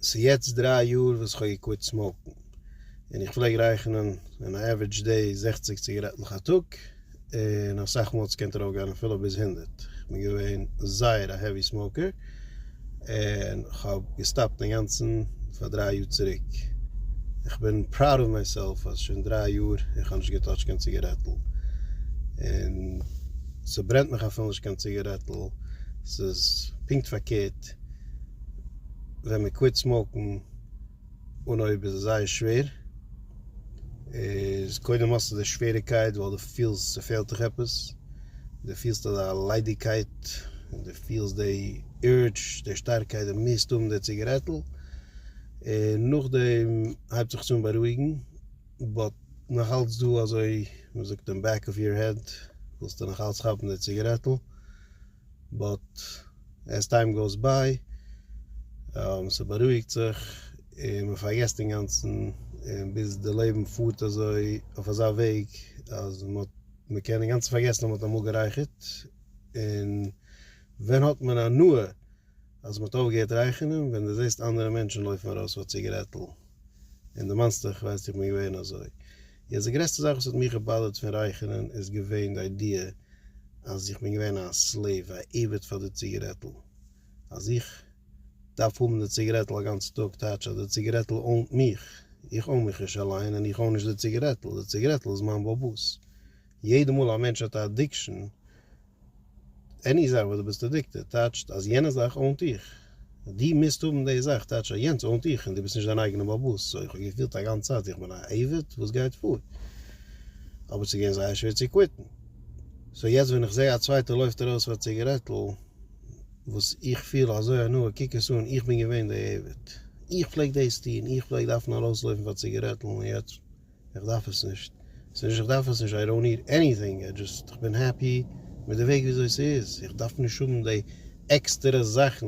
ס'איז יעצט דריי יאר וואס כ'האב געקוויט סמאוקן, און איך פלעג רייכענען אין א עווערעדזש דעי זעכציק ציגארעטלעך א טאג, און אסאך מאל ס'קען טראף גיין אפילו ביז הונדערט, כ'בין געווען זייער א העווי סמאוקער, און כ'האב געסטאפט אינגאנצן פאר דריי יאר צוריק, כ'בין פראוד אוו מיי סעלף אז שוין דריי יאר איך האב נישט געטאטשט קיין ציגארעטל, און ס'ברענט מיך אפילו נישט קיין ציגארעטל, ס'איז פונקט פארקערט. ווען מען קוויט סמאוקן אן אויב איז עס זייער שווער איז קודם האסטו די שוועריקייט ווייל די פילסט ס'פעלט דיך עפעס די פילסט אזא ליידיגקייט און די פילסט די urge די שטארקייט די מוזט האבן די ציגערעטל און נאכדעם הייבט זיך עס אן בארואיגן באט נאכאלץ דא אזוי מ'זאגט אין בעק אוו יור העד ווילסטו נאכאלץ כאפן די ציגערעטל. באט עז טיים גאוס ביי, ס'בארואיגט זיך און מ'פארגעסט אינגאנצן, און ביז די לעבן פארט אזוי אויף אזא וועג אז מ'קען אינגאנצן פארגעסן אז מ'האט אמאל גערייכערט, און ווען האט מען הנאה אז מ'האט אויפגעהערט רייכענען? ווען דו זעסט אנדערע מענטשן לויפן ארויס פאר א ציגערעטל, און דערמאנסט דיך, כ'ווייס איך בין געווען אזוי. יעצט די גרעסטע זאך וואס האט מיך געבאדערט פון רייכענען איז געווען די איידיע אז איך בין געווען א סלעיוו, א עבד פאר די ציגערעטל, אז איך דארף האבן די ציגערעטל א גאנצע טאג טייטש אז די ציגערעטל אונט מיך, איך און מיך נישט אליין און איך און נישט די ציגערעטל, די ציגערעטל איז מיין באבוס, יעדע מאל א מענטש האט א אדיקשאן, עני זאך וואס דו ביסט עדיקטעד טייטשט אז יענע זאך אוינט דיך, דו מוזט האבן די זאך טייטשט אז יענץ אוינט דיך און דו ביסט נישט דיין אייגענע בעל באס, סוי איך האב געפילט א גאנץ צייט איך בין א עבד וואס גייט פאר, אבער ס'איז געווען זייער שווער צו קוויטן, סוי יעצט ווען איך זעה א צווייטער לויפט ארויס פאר ציגערעטל וואס איך פיל אזוי הנאה קוק עס אן איך בין געווען די עבד, איך פלעג דאס טון, איך פלעג דארפן ארויסלויפן פאר ציגערעטל און יעצט. איך דארף עס נישט, ס'איז נישט איך דארף עס נישט, איי דאנט ניד עניטינג, איי דזשאסט איך בין העפי מיט די וועג וויאזוי ס'איז, איך דארף נישט האבן די עקסטערע זאכן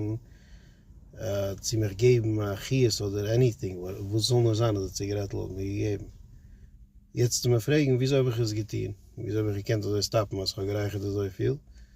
צו מיך געבן א חיות אדער עניטינג, וואס ס'זאל נאר זיין אז די ציגערעטל האט מיר געגעבן. יעצט צו מיר פרעגן וויאזוי האב איך עס געטון, וויאזוי האב איך געקענט אזוי סטאפן אז כ'האב גערייכערט אזויפיל?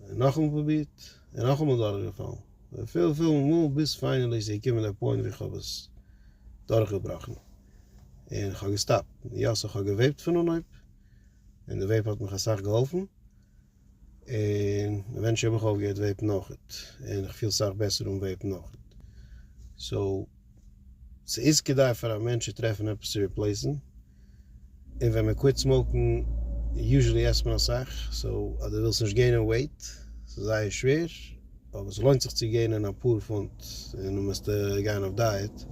און נאכאמאל פרובירט, און נאכאמאל דורכגעפאלן, וויפיל וויפיל מאל, ביז פיינעלי איז געקומען דער פוינט ווי כ'האב עס דורכגעבראכן, און כ'האב געסטאפט, יא סאו כ'האב געוועיפט פון אנהויב, און די וועיפ האט מיך אסאך געהאלפן, און עווענטשעלי האב איך אויפגעהערט וועיפן אויכעט, און כ'פיל סאך בעסער אן וועיפן אויכעט, סאו. ס'איז כדאי פאר א מענטש צו טרעפן עפעס צו ריפלעיסן, און ווען מען קוויט סמאוקן יוזשעלי עסט מען אסאך, סאו אז דו ווילסט נישט געינען וועיט, ס'איז זייער שווער, אבער ס'לוינט זיך צו געינען אפאר פונט און דו מוזט גיין אויף דייעט,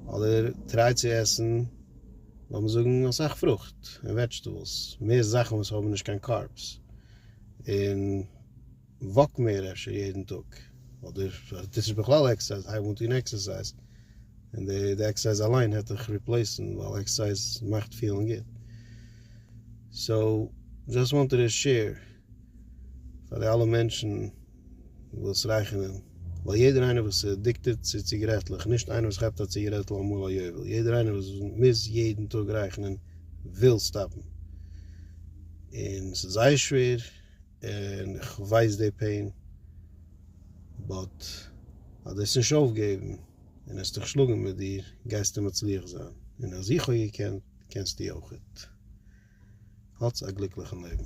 אדער טריי צו עסן לאמיר זאגן אסאך פרוכט און וועדזשטעבלס, מער זאכן וואס האבן נישט קיין קארבס, און. וואק מער אפשר יעדן טאג, אדער אז טוטס נישט בכלל עקסערסייז הייב אן טון עקסערסייז, און די עקסערסייז אליין העט דיך ריפלעיסן, ווייל עקסערסייז מאכט פילן גוט, סאו דזשאסט וואנטעד טו שעיר פאר די אלע מענטשן וואס רייכענען, ווייל יעדער איינער וואס איז עדיקטעד צו ציגערעטלעך, נישט איינער וואס כאפט א ציגערעטל אמאל א יובל, יעדער איינער וואס מוז יעדן טאג רייכענען וויל סטאפן, און ס'איז זייער שווער. און איך ווייס די פעין, באט אז דו עסט נישט אויפגעבן און עסט דיך שלאגן מיט דיר גייסטו מצליח זיין, און אז איך האב געקענט קענסטו אויכעט. האטס א גליקליכן לעבן.